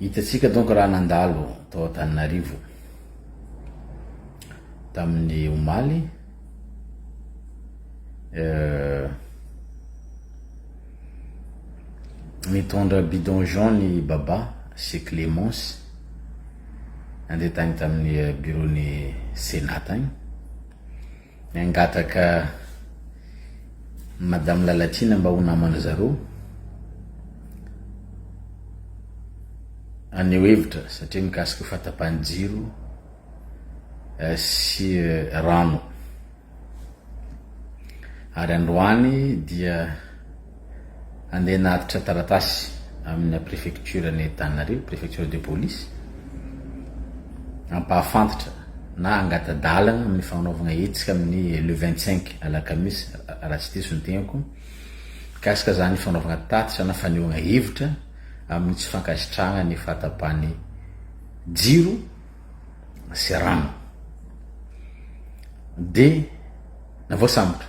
Hitantsika donc raha nandalo tao Antananarivo tamin'ny omaly mitondra bidon jaune i Baba sy Clémence nandeha tany tamin'ny bureau-n'ny Sénat tany. Miangataka madame Lalatiana mba ho namana zareo haneho hevitra satria mikasika fahatapahan'ny jiro sy rano ary androany dia Andeha hanatitra taratasy amina prefecture any Antananarivo, prefecture de police, hampahafantatra na hangata-dalana amin'ny fanaovana hetsika amin'ny le 25 alakamisy raha tsy diso ny tegnako mikasika izany fanaovana tatitra na fanehoana hevitra amin'ny tsy fankasitrahana ny fahatapahan'ny jiro sy rano dia navoasambotra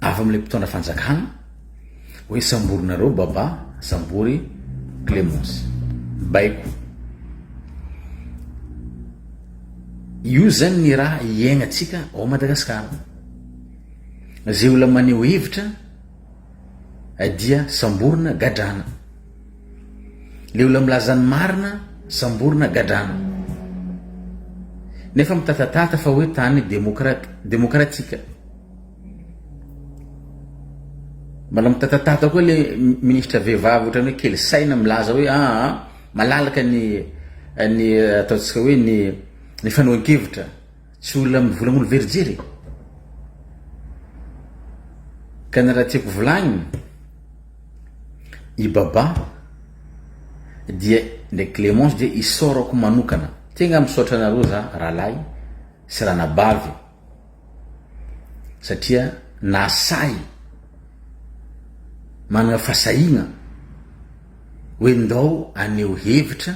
Avy amin'ilay mpitondra fanjakana hoe samborinareo Baba sambory Clemence. Baiko. Io zany ny raha iaignatsika ao Madagasikara. Zay olona maneho hevitra dia samborina, gadrana. Le olona milaza ny marina samborina gadrana nefa mitatatata fa hoe tany demokrat demokratika mbola mitatatata koa le ministra vehivavy ohatran'ny hoe kely saina milaza hoe aa ah, ah, malalaka ny ny eh, ataontsika hoe ny ny fanohan-kevitra tsy olona mivolan'olo verijery ka ny raha tiako volagnina I Baba dia ndraiky Clémence dia isaorako manokana. Tegna misaotra anareo za rahalahy sy ranabavy satria nahasahy managna fahasahiagna hoe ndao aneho hevitra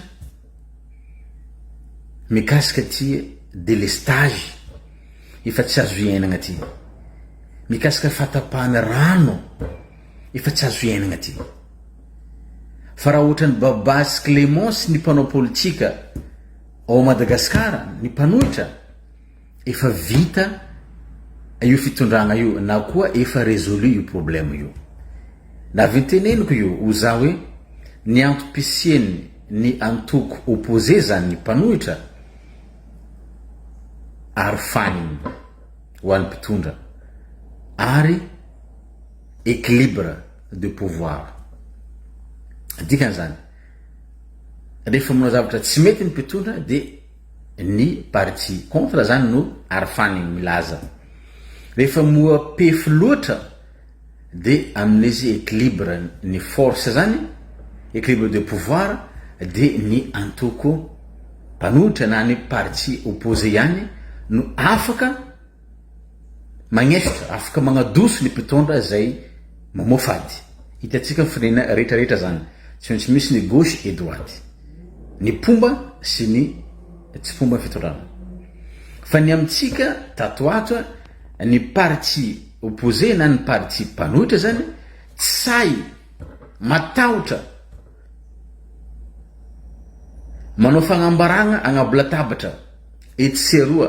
mikasika ty delestage efa tsy azo iainagna ty. Mikasika fatapahana rano. Efa tsy azo iainagna ty. Fa raha ohatran'i Babà sy Clémence ny mpanao politika ao Madagascar ny mpanohitra efa vita io fitondragna io na koa efa résolu io problème io. Na avy teneniko io ho za hoe ny antom-pisiany ny antoko opposé zany ny mpanohitra arofanigny ho an'ny mpitondra ary equilibre de pouvoir. Dikan'izany, rehefa manao zavatra tsy mety ny mpitondra dia ny parti contre zany no arfany milaza. Rehefa moapefy loatra dia amin'izy equilibre ny force zany, equilibre de pouvoir dia ny antoko mpanohitra na ny parti opposé ihany no afaka Magnestre, afaka magnadoso ny mpitondra zay mamoafo ady. Hitantsika ny firenena rehetra rehetra zany. Tsy maintsy misy ny gauche et droite. Ny mpomba sy ny tsy mpomba ny fitondrana. Fa ny amintsika tato ato ny parti opposé na ny parti mpanohitra zany tsy sahy matahotra manao fagnambaragna agnaby latabatra etsy sy aroa.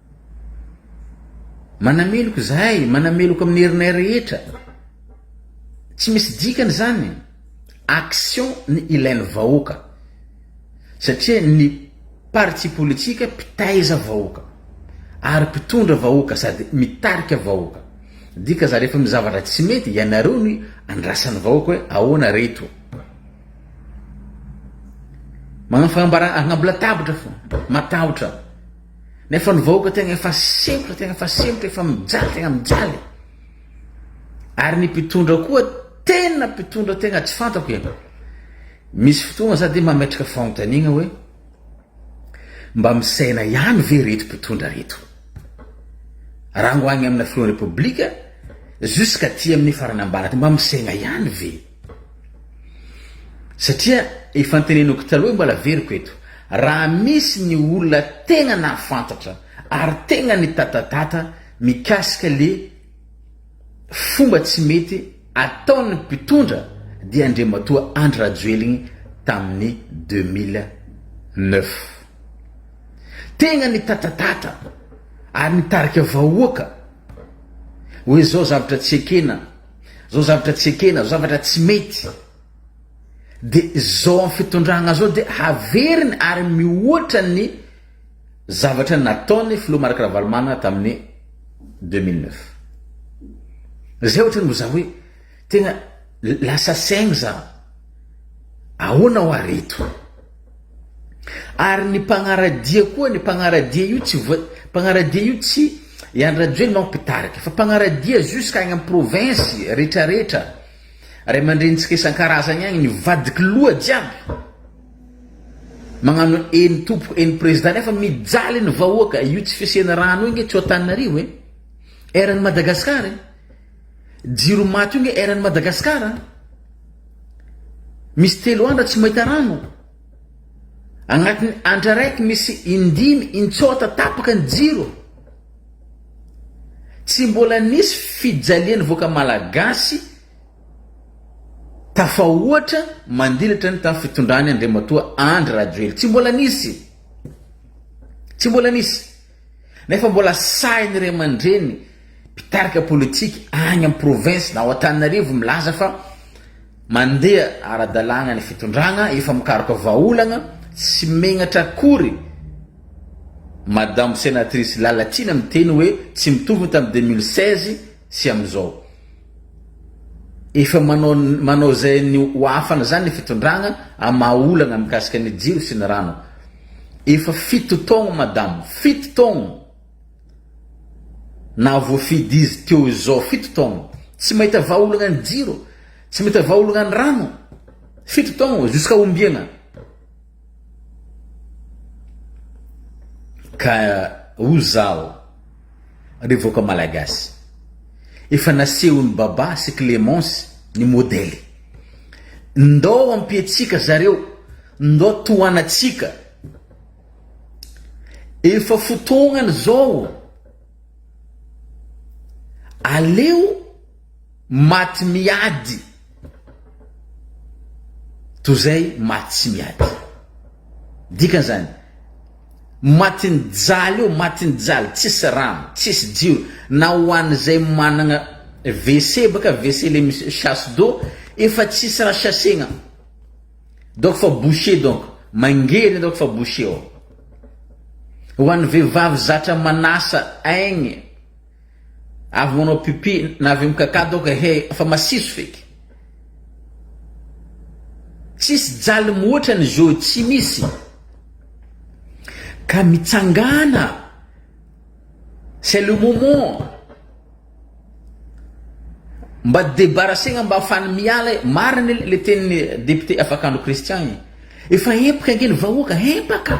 Manameloka izahay, manameloka amin'ny herinay rehetra. Tsy misy dikany izany. Action ny ilain'ny vahoaka. Satria ny parti politika mpitaiza vahoaka ary mpitondra vahoaka sady mitarika vahoaka. Dika zany rehefa misy zavatra tsy mety ianareo no andrasan'ny vahoaka hoe ahoana reto. Magnano fagnambarana agnabo latabatra fo, matahotra. Nefa ny vahoaka tegna efa sempotra, tegna efa sempotra, efa mijaly, tegna mijaly. Ary ny mpitondra koa tena mpitondra tegna tsy fantako e. Misy fotoagna za de mametraka fanontaniagna hoe mba misaina ihany ve reto mpitondra reto? Rango agny amina filohan'ny Repoblika jusqu'à ty amin'ny farany ambany mba misaina ihany ve? Satria efa ntenenoko taloha mbola averiko eto, raha misy ny olona tegna nahafantatra ary tegna nitatatata mikasika le fomba tsy mety ataon'ny mpitondra dia Andriamatoa Andry Rajoeligny tamin'ny deux mille neuf. Tegna nitatatata ary nitarika vahoaka hoe zao zavatra tsy ekena. Zao zavatra tsy ekena, zao zavatra tsy mety de zao amin'ny fitondragna zao de haveriny ary mihoatra ny zavatra nataony filoha Marc Ravalomanana tamin'ny deux mille neuf. Zay ohatrany mbo za hoe tegna lasa saigny za ahoana hoa reto. Ary ny mpanaradia koa ny mpanaradia io tsy voa mpanaradia io tsy i Andry Rajoelina ao mpitarika fa mpanaradia jusqu'à agny am province retraretra ray aman-drenintsika isan-karazagny agny ny vadiky loha jiaby magnano eny tompoko eny prezida nefa mijaly ny vahoaka io tsy fisiana rano io nge tsy ao Antananarivo e eran'i Madagasikara e. Jiro maty io nge eran'i Madagascar a! Misy telo andra tsy mahita rano. Agnatin'ny andra raiky misy indimy intsôta tapaka ny jiro. Tsy mbola nisy fijalian'ny vahoaka malagasy tafahoatra mandilatra ny tamin'ny fitondran'i Andriamatoa Andry Rajoely. Tsy mbola nisy. Tsy mbola nisy. Nefa mbola sahin'ny ray aman-dreny mpitarika politika any amin'ny province na ao Antananarivo milaza fa mandeha ara-dalàna ny fitondrana, efa mikaroka vahaolana, tsy megnatra akory Madame Senatrice Lalatiana miteny hoe tsy mitovy ny tamin'ny deux mille seize sy amin'izao. Efa manao manao izay ny ho afany izany ny fitondragna amin'ny maha olana mikasika ny jiro sy ny rano. Efa fito taogno madamo, fito taogno nahavoafidy izy teo izao, fito taogno tsy mahita vahaolagna ny jiro, tsy mahita vahaolagna ny rano, fito taogno, jusqu'à ombiagna? Ka o zaho ry vahoaka malagasy efa nasehon'i Baba sy Clemence ny modèle. Ndao ampiantsika zareo, ndao tohanatsika. Efa fotoagnany zao. Aleo. Maty miady toy izay maty tsy miady. Dikany zany, matin'ny jaly io, matin'ny jaly, tsisy rano, tsisy jiro, na ho an'izay managna WC baka, WC le misy chasse d'eau, efa tsisy raha chasser-gna. Donc fa boucher donc, mangery donc fa boucher ao. Ho an'ny vehivavy zatra manasa aigny. Avy manao pipi na avy mikakà donc ehe fa masiso feky. Tsisy jaly mihoatrany Joe tsy misy ka mitsangàna c'est le moment mba debarasegna mba afahany miala e, marigny le tenin'i député Afakandro Christian igny, efa empaka ange ny vahoaka, empaka.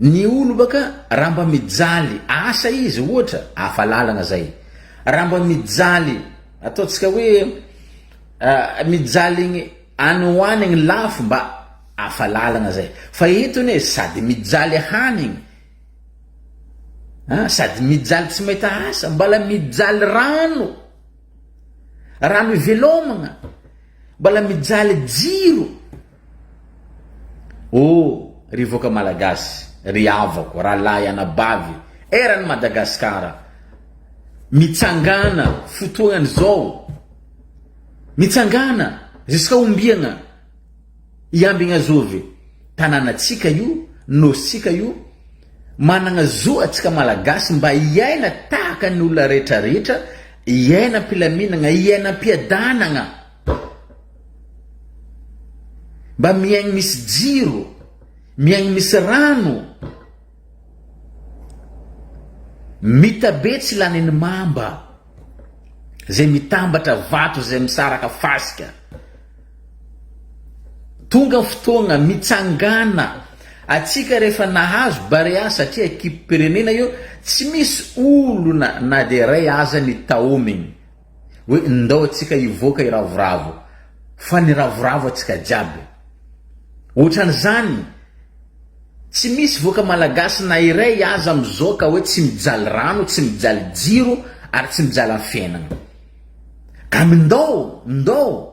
Ny olo baka raha mba mijaly asa izy ohatra hafa lalana zay. Raha mba mijaly ataontsika hoe mijaly egny any ho any ny lafo mba hafa lalana zay fa eto anie sady mijaly hanigny a sady mijaly tsy mahita asa mbala mijaly rano, rano ivelomagna. Mbala mijaly jiro ô ry vahoaka malagasy, ry havako, rahalahy anabavy eran'i Madagasikara, mitsangana fotoana izao, mitsangana, ziska ombiana. I Ambinazovy tananatsika io, Nosintsika io, managna zo atsika Malagasy mba hiaina tahaka ny olona rehetra rehetra, hiaina am-pilaminagna, hiaina am-piadanagna, mba miaigny misy jiro, miaigny misy rano. Mita be tsy lany ny mamba zay mitambatra vato zay misaraka fasika Tonga fotoagna mitsangana atsika rehefa nahazo barea satria ekipim-pirenena io tsy misy olona na dia iray aza ny taomigny hoe ndao atsika hivoaka hiravoravo fa niravoravo atsika jiaby otrany zany tsy misy voaka malagasy na iray aza amizao ka hoe tsy mijaly rano tsy mijaly jiro ary tsy mijaly afenana kamy ndao ndao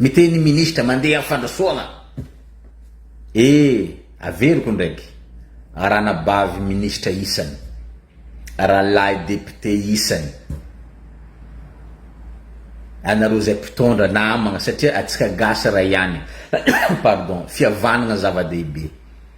Miteny ny ministra mandeha am fandrosoana e averiko ndraiky ranabavy ministra isany ralahy député isany anareo zay mpitondra namagna satria atsika gasy ray ihany pardon fihavanagna zava dehibe.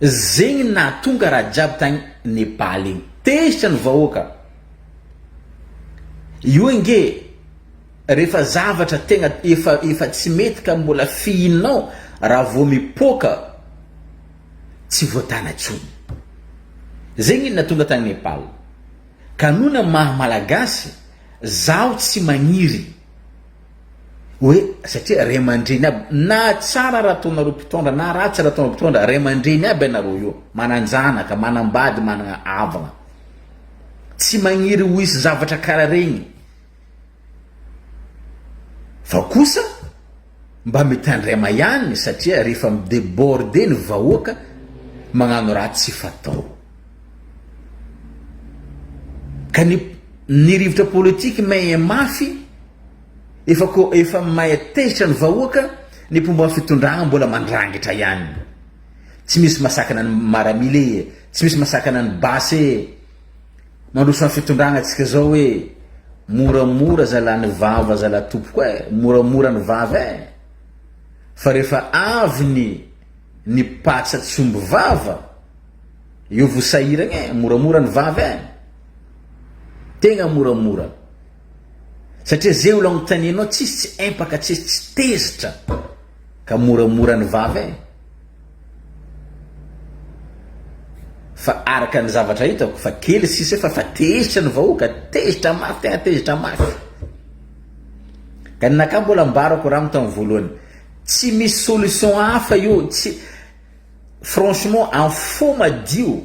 Zegny ny nahatonga raha jiaby tagny Nepal igny. Tezitra ny vahoaka. Io ange rehefa zavatra tegna efa efa tsy mety ka mbola fihinao raha vao mipoaka tsy voatana tsony. Zegny ny nahatonga tagny Nepal. Ka noho ny maha malagasy zaho tsy magniry. Hoe satria ray aman-dreny aby, na tsara raha ataonareo mpitondra na ratsy raha ataonareo mpitondra, ray aman-dreny aby ianareo io, manan-janaka, manam-bady, manana havana. Tsy magniry ho hisy zavatra karaha regny. Fa kosa mba mitandrema ihany satria rehefa mi-deborder ny vahoaka, magnano raha tsy fatao. Ka ny ny rivotra politique main mafy, Efa ko efa mahay tezitra ny vahoaka ny mpomba fitondrana mbola mandrangitra ihany. Tsy misy masakana ny maramila e, tsy misy masakana ny basy e. Mandroso an fitondrana tsika zao e. Moramora zala ny vava zala tompoko e, moramora ny vava e. Fa refa avy ny ny patsa tsy omby vava eo vo sahiragna e, moramora ny vava e. Tegna moramora. Satria ze olo anontanianao tsisy tsy empaka tsisy tsy tezitra ka moramora ny vava e! Fa araka ny zavatra hitako fa kely sisa efa fa tezitra ny vahoaka, tezitra mafy tena tezitra mafy. Ka ny nakà mbola ambarako rano tamin'ny voalohany, tsy misy solution hafa io, tsy franchement am fo madio.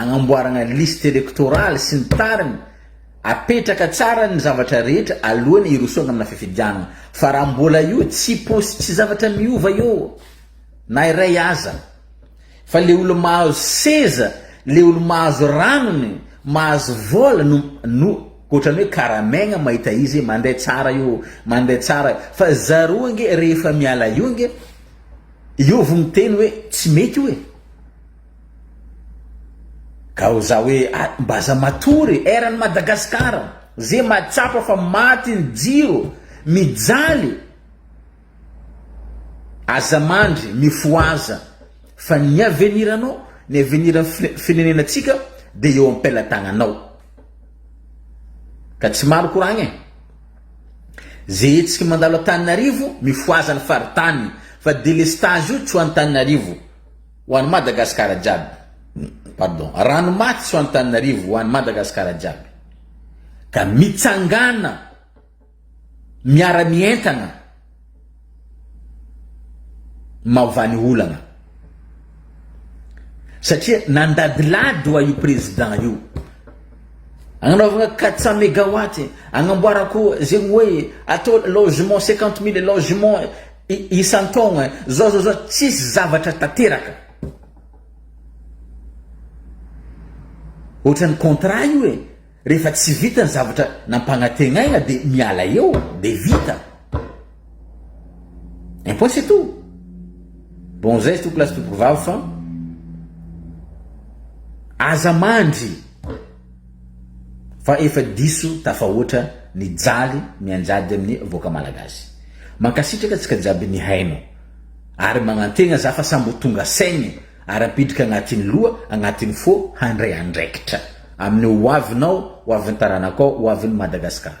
Agnamboaragna liste électorale sy ny tariny, apetraka tsara ny zavatra rehetra aloany hirosoagna amina fifidianagna, fa raha mbola io tsy pos tsy zavatra miova eo na iray aza, fa le olo mahazo seza, le olo mahazo ranony, mahazo vola no no otrany hoe karamegna mahita izy mande tsara io mande tsara io, fa zareo ange rehefa miala eo ange eo vo miteny hoe tsy mety io e. Gao za hoe a mbaza matory e eran'i Madagascar ze mahatsapa fa maty ny jiro mijaly aza mandry mifohaza fa ny avenir anao ny avenir firenenantsika de eo am-pelatagnanao ka tsy maro koragna e ze hetsiky mandalo Antananarivo mifohaza ny faritany fa delestage io tsy ho Antananarivo Ho an'i Madagasikara jiaby. Pardon. Rano maty tsy ho an'Antananarivo, ho an'i Madagasikara jiaby. Ka mitsangana miara-mientana maova ny olana. Satria nandadilady wa io président io. Agnanaovana 400 mégawatt, agnamboarako zegny hoe atao logement 50 mille logement Isan-taogna zao zao zao tsisy zavatra tanteraka. Ohatran'ny contrat io e, rehefa tsy vita ny zavatra nampagnategnaina de miala eo de vita. Un point c'est tout. Bon zay tompoko lahy sy tompoko vavy fa aza mandry. Fa efa diso tafahoatra ny jaly mianjady amin'ny vahoaka malagasy. Mankasitraka antsika jiaby nihaino. Ary magnantegna za fa sambo tonga saigny ary ampidrika agnatin'ny loha, agnatin'ny fo handray andraikitra. Amin'ny hoavinao, hoavin'ny taranakao, hoavin'i Madagasikara.